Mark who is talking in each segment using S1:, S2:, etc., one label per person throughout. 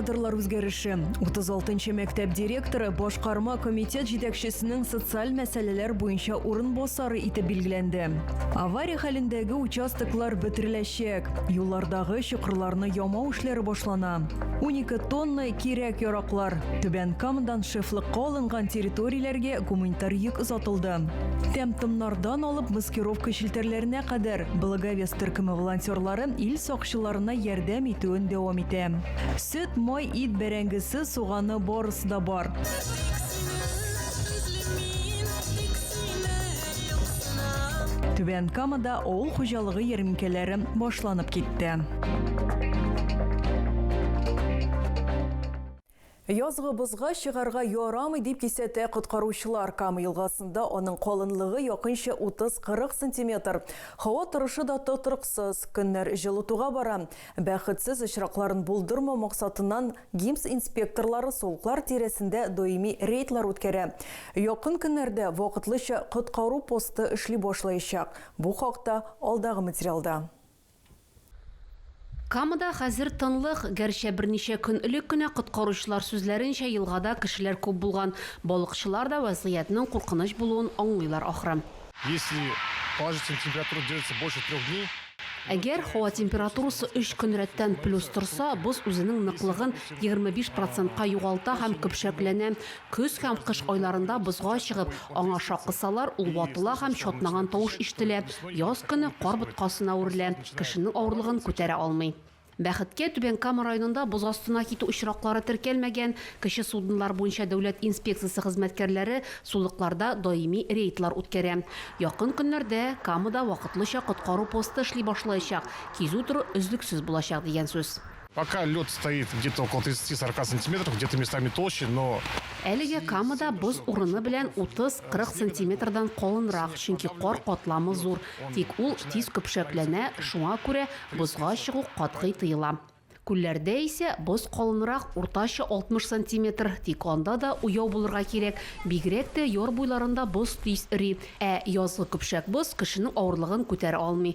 S1: Кадрлар үзгәреше. 36 нчы мәктәп директоры башкарма комитет җитәкчесенең социаль мәсьәләләр буенча урынбасары итеп билгеләнде. Авария хәлендәге участоклар бетереләчәк. Юллардагы чокырларны ямау эшләре башлана. 12 тонна кирәк яраклар. Түбән Камадан шефлыкка алынган территорияләргә гуманитар йөк озатылды. Тәм-томнардан алып маскировка челтәрләренә кадәр Благовест төркеме волонтерлары ил сакчыларына ярдәм итүен дәвам итә. Сөт, май, ит, бәрәңгесе, суганы барысы да бар. Түбән Камада авыл хуҗалыгы ярминкәләре башланып китте. Язгы бозга чыгарга ярамый, дип кисәтә коткаручылар. Кама елгасында аның калынлыгы якынча 30-40 сантиметр. Һава торышы да тотрыксыз. Көннәр җылытуга бара. Бәхетсез очракларын булдырмау максатыннан ГИМС инспекторлары сулыклар тирәсендә даими рейдлар үткәрә. Якын көннәрдә вакытлыча коткару посты эшли башлаячак. Бу хакта алдагы материалда.
S2: Камада хәзер тынлык, гәрчә берничә көн элек кенә, коткаручылар сүзләренчә, елгада кешеләр күп булган. Балыкчылар да вәзгыятьнең куркыныч булуын аңлыйлар ахры. Если
S3: положительная температура держится больше трех дней. Әгәр һава
S2: температурасы өч көн рәттән плюс торса, боз үзенең ныклыгын егерме биш процентка югалта һәм көпшәкләнә. Көз һәм кыш айларында бозга чыгып, аңа шак кысалар, ул ватыла һәм чатнаган тавыш ишетелә. Яз көне кар боткасына үрелә, кешенең авырлыгын күтәрә алмый. Бәхеткә, Түбән Кама районында боз астына китү очраклары теркәлмәгән. Кече суднолар буенча дәүләт инспекциясе хезмәткәрләре сулыкларда даими рейдлар үткәрә. Якын көннәрдә Камада вакытлыча коткару посты эшли башлаячак, кизү-тору өзлексез булачак дигән сүз. Пока лед
S3: стоит где-то около 30-40 сантиметров, где-то местами толще, но. Әлеге Камада
S2: боз урыны белән 30-40 сантиметрдан калынрак, чөнки кар катламы зур, тик ул тиз көпшәкләнә, шуңа күрә бозга чыгу катгый тыела. Күлләрдә исә боз калынрак, уртача 60 сантиметр, тик анда да уяу булырга кирәк, бигрәк тә яр буйларында боз тиз эри, ә язгы көпшәк боз кешенең авырлыгын күтәрә алмый,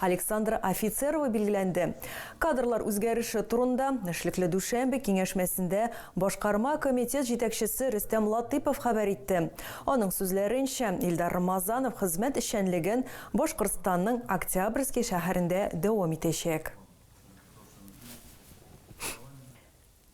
S1: Александра Офицерова билгеләнде. Кадрлар үзгәреше турында эшлекле дүшәмбе киңәшмәсендә башкарма комитет җитәкчесе Рөстәм Латыйпов хәбәр итте. Аның сүзләренчә, Илдар Рамазанов хезмәт эшчәнлеген Башкортстанның Октябрьский шәһәрендә дәвам итәчәк.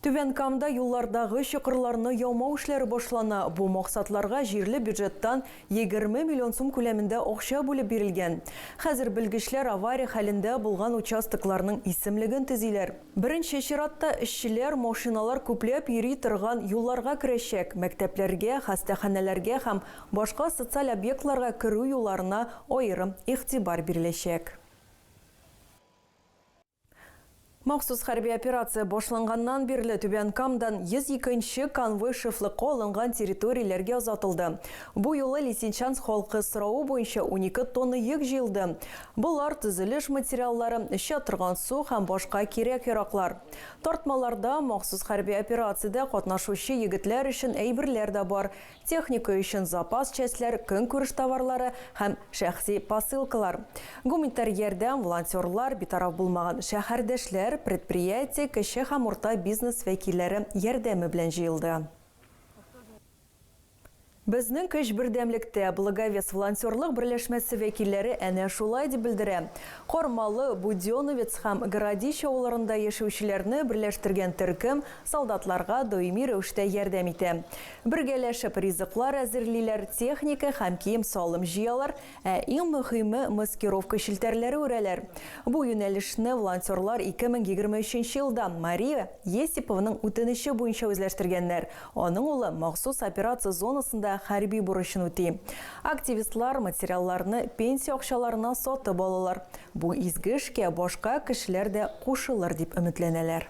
S1: Түбән Камда юллардагы чокырларны ямау эшләре башлана, бу максатларга җирле бюджеттан егерме миллион сум күләмендә акча бүлеп бирелгән. Хәзер белгечләр авария хәлендә булган участокларның исемлеген төзиләр. Беренче чиратта эшчеләр машиналар күпләп йөри торган юлларга керәчәк, мәктәпләргә, хастаханәләргә һәм башка социаль объектларга керү юлларына аерым игътибар биреләчәк. Махсус хәрби операция башланганнан бирле Түбән Камадан 102 нче конвой шефлыкка алынган территорияләргә озатылды. Бу юлы Лисичанск халкы соравы буенча унике тонна йөк җыелды. Болар, төзелеш материаллары, эчә торган су һәм башка кирәк-яраклар. Тартмаларда махсус хәрби операциядә катнашучы егетләр өчен әйберләр дә бар, техника өчен запас частьләр, көнкүреш товарлары һәм шәхси посылкалар, гуманитар ярдәм, волонтерлар, битараф булмаган шәһәрдәшләр, предприятие, кече һәм урта бизнес вәкилләре ярдәме белән җыелды. Безнең көч бердәмлектә, Благовест волонтерлык берләшмәсе вәкилләре әнә шулай дип белдерә. Кармалы, Будёновец һәм Городище авылларында яшәүчеләрне берләштергән төркем солдатларга даими рәвештә ярдәм итә. Бергәләшеп ризыклар әзерлиләр, техника һәм кием-салым җыялар, ә иң мөһиме, маскировка челтәрләре үрәләр. Бу юнәлешне волонтерлар 2023 елда Мария Есипованың үтенече буенча үзләштергәннәр, аның улы махсус операция зонасында хәрби бурычын үти. Активистлар материалларны пенсия акчаларына сатып алалар. Бу изге эшкә башка кешеләр дә кушылыр дип өметләнәләр.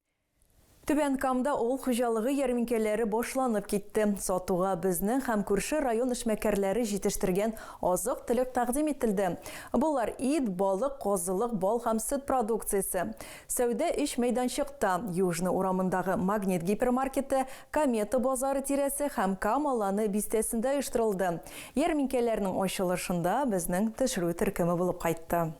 S1: Түбән Камда авыл хуҗалыгы ярминкәләре башланып китте. Сатуга безнең һәм күрше район эшмәкәрләре җитештергән азык-төлек тәкъдим ителде. Болар, ит, балык, казылык, бал һәм сөт продукциясе. Сәүдә өч мәйданчыкта, Южный урамындагы Магнит гипермаркеты, Комета базары тирәсе һәм Кам Аланы бистәсендә оештырылды. Ярминкәләрнең ачылышында безнең төшерү төркеме булып кайтты.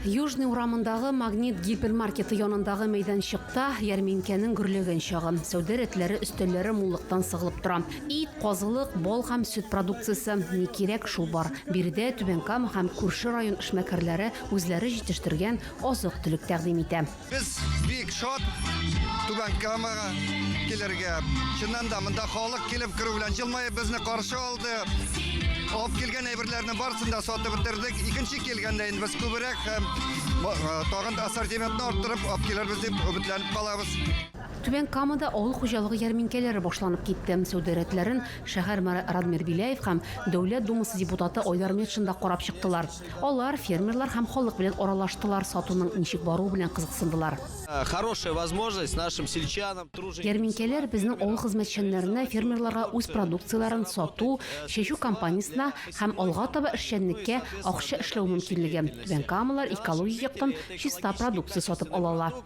S1: Южный
S2: урамындагы Магнит гипермаркеты янындагы мәйданчыкта ярминкәнең гөрләгән чагы. Сәүдә рәтләре, өстәлләре муллыктан сыгылып тора. Ит, казылык, бал һәм сөт продукциясе, ни кирәк, шул бар. Биредә Түбән Кама һәм күрше район эшмәкәрләре үзләре җитештергән азык-төлек тәкъдим итә. Без бик
S4: шат Түбән Камага килергә. Чыннан да монда халык килеп керү белән җылмаеп безне каршы алды. Алып килгән әйберләрне барысын да сатып бетердек. Икенче килгәндә инде без күбрәк һәм э, тагын да ассортиментны арттырып алып килербез дип өметләнеп калабыз. Түбән Камада
S2: авыл хуҗалыгы ярминкәләре башланып китте. Сәүдә рәтләрен шәһәр мэры Радмир Беляев һәм Дәүләт Думасы депутаты Айдар Метшин да карап чыктылар. Алар фермерлар һәм халык белән аралаштылар, сатуның ничек баруы белән кызыксындылар. Хорошая
S5: возможность нашим сельчанам, труженикам. Ярминкәләр
S2: безнең авыл хезмәтчәннәренә фермерларга үз продукцияләрен сату, чәчү кампаниясенә һәм алга таба эшчәнлеккә акча эшләү мөмкинлеге. Түбән Камалар экологик яктан чиста продукция сатып алалар.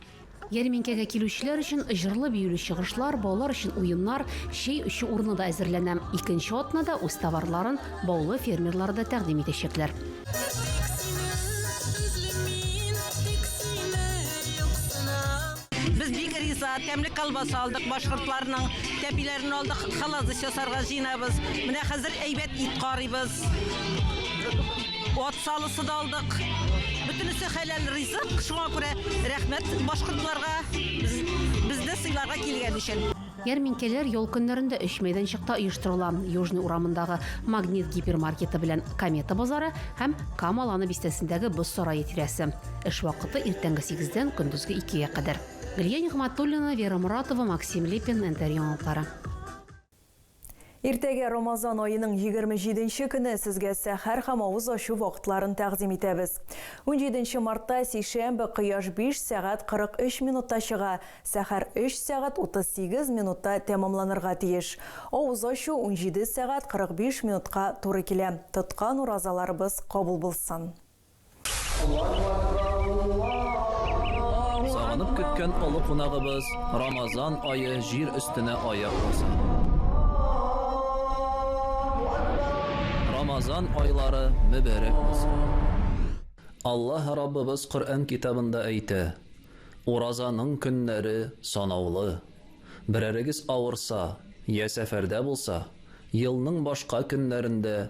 S2: Ярминкәгә килүчеләр өчен җырлы-биюле чыгышлар, балалар өчен уеннар, чәй эчү урыны да әзерләнә. Икенче атнада үз товарларын Баулы фермерлары да тәкъдим итәчәкләр.
S6: Без бик риза, тәмле колбаса алдык, башкортларның тәпиләрен алдык, холодец ясарга җыенабыз. Менә хәзер әйбәт ит карыйбыз. Ат салысы да алдык. Бөтенесе хәләл ризык, шуңа күрә рәхмәт башкортларга, безне сыйларга килгән өчен. Ярминкәләр ял
S2: көннәрендә өч мәйданчыкта оештырыла, Южный урамындагы Магнит гипермаркеты белән Комета базары һәм Кама Ланы бистәсендәге Боз сарае тирәсе. Эш вакыты иртәнге сигездән көндезге икегә кадәр. Гөлия Нигъмәтуллина, Вера Моратова, Максим Липин, НТР яңалыклары.
S1: Иртәгә Рамазан аеның егерме җиденче көне сезгә сәхәр һәм авыз ачу вакытларын тәкъдим итәбез. Унҗиденче мартта, сишәмбе, кояш биш сәгать кырык өч минутта чыга, сәхәр өч сәгать утыз сигез минутта тәмамланырга тиеш. Авыз ачу унҗиде сәгать кырык биш минутка туры килә. Тоткан уразаларыбыз кабул булсын!
S5: Сагынып көткән олы кунагыбыз Рамазан ае җир өстенә аяк баса. Рамазан айлары мөбәрәк булсын! Аллаһ Раббыбыз Коръән китабында әйтә, Уразаның көннәре санаулы. Берәрегез авырса, йә сәфәрдә булса, елның башка көннәрендә